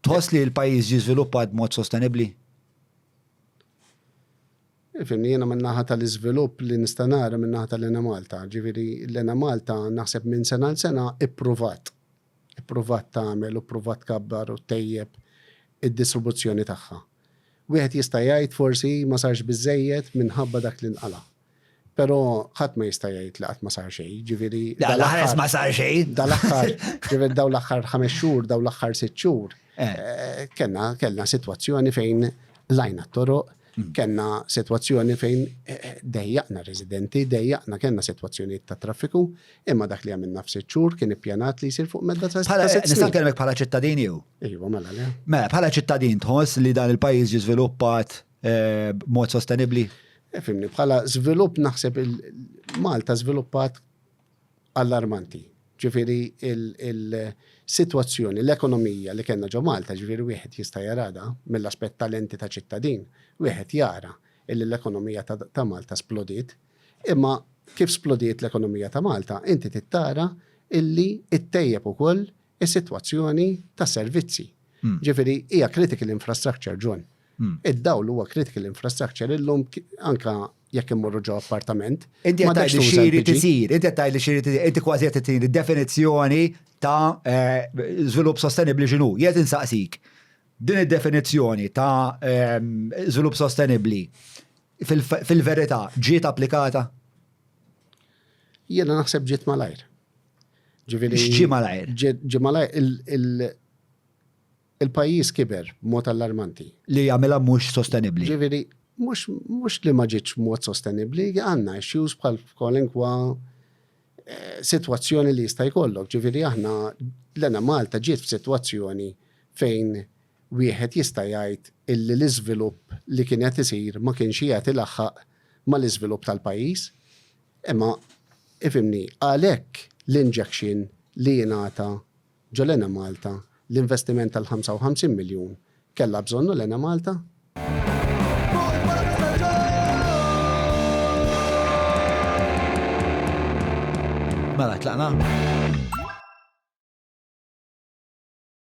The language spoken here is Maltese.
Tħoss li l-pajjiż ġie żviluppat b'mod sostenibbli? Fimni, jiena min-naħa tal-iżvilupp li nista' nara min-naħa tal-Enemalta. Ġifieri l-Enemalta naħseb minn sena għal sena ippruvat. Ippruvat tagħmel u ppruvat tkabbar u ttejjeb id-distribuzzjoni tagħha. Wieħed jista' jgħid forsi ma sarx biżżejjed minħabba dak li nqala'. Pero ħadd ma jista' jgħid li qatt ma sar xejn, ġifieri. Dal-aħħar ma sar xejn. Dal-aħħar, ġifieri daw l-aħħar ħames xhur, daw l-aħħar sitt xhur. Eh. Eh, kellna kellna sitwazzjoni fejn lajna t-toroq, hmm. kellna sitwazzjoni fejn eh, dejjaqna residenti, dejjaqna kellna sitwazzjonijiet ta' traffiku, imma dak li għamilna f'sitt xhur kien ippjanat li jsir fuq medda ta' Nista' kelmek bħala ċittadin jew? Ejwa, mela le. Mela, bħala ċittadin tħoss li dan il-pajjiż jiżviluppat eh, b'mod sostenibbli. Eh, fimni, bħala żvilupp naħseb il-Malta żviluppat allarmanti. Ġifieri il-sitwazzjoni, l-ekonomija li kellna ġo Malta, ġifieri wieħed jista' jarada mill-aspett talenti ta' ċittadin, wieħed jara illi l-ekonomija ta' Malta splodiet, imma kif splodiet l-ekonomija ta' Malta, inti tittara illi ittejjeb ukoll is-sitwazzjoni ta' servizzi. Hmm. Ġifieri hija critical infrastructure ġon. Hmm. Id-dawl huwa critical infrastructure illum anka jekk immorru ġo appartament. Inti qed tgħid li xiri tisir, inti qed tgħid li xiri tisir, inti kważi qed tgħid definizzjoni ta' eh, żvilupp sostenibbli x'inhu. Jgħid insaqsik din id-definizzjoni ta' ehm, żvilupp sostenibbli fil-verità ġiet applikata? Jiena naħseb ġiet malajr. Ġifieri. Ġi malajr. Ġi malajr Il-pajjiż kiber b'mod allarmanti. Li jagħmilha mhux sostenibbli. Jiġifieri, mhux, mhux li ma ġietx b'mod sostenibbli, għandna issues bħal f'kwalinkwa sitwazzjoni li jista' jkollok. Jiġifieri aħna, l-għena Malta ġiet f'sitwazzjoni fejn wieħed jista' jgħid illi l-iżvilupp li kien qed isir ma kienx qiegħed ilaħħaq mal-iżvilupp tal-pajjiż. Imma, ifhimni, għalhekk l-injection li jingħata Ġo l-Enemalta, l-investiment tal-55 miljun kellha bżonnu l-Enemalta? Mela tlaqna?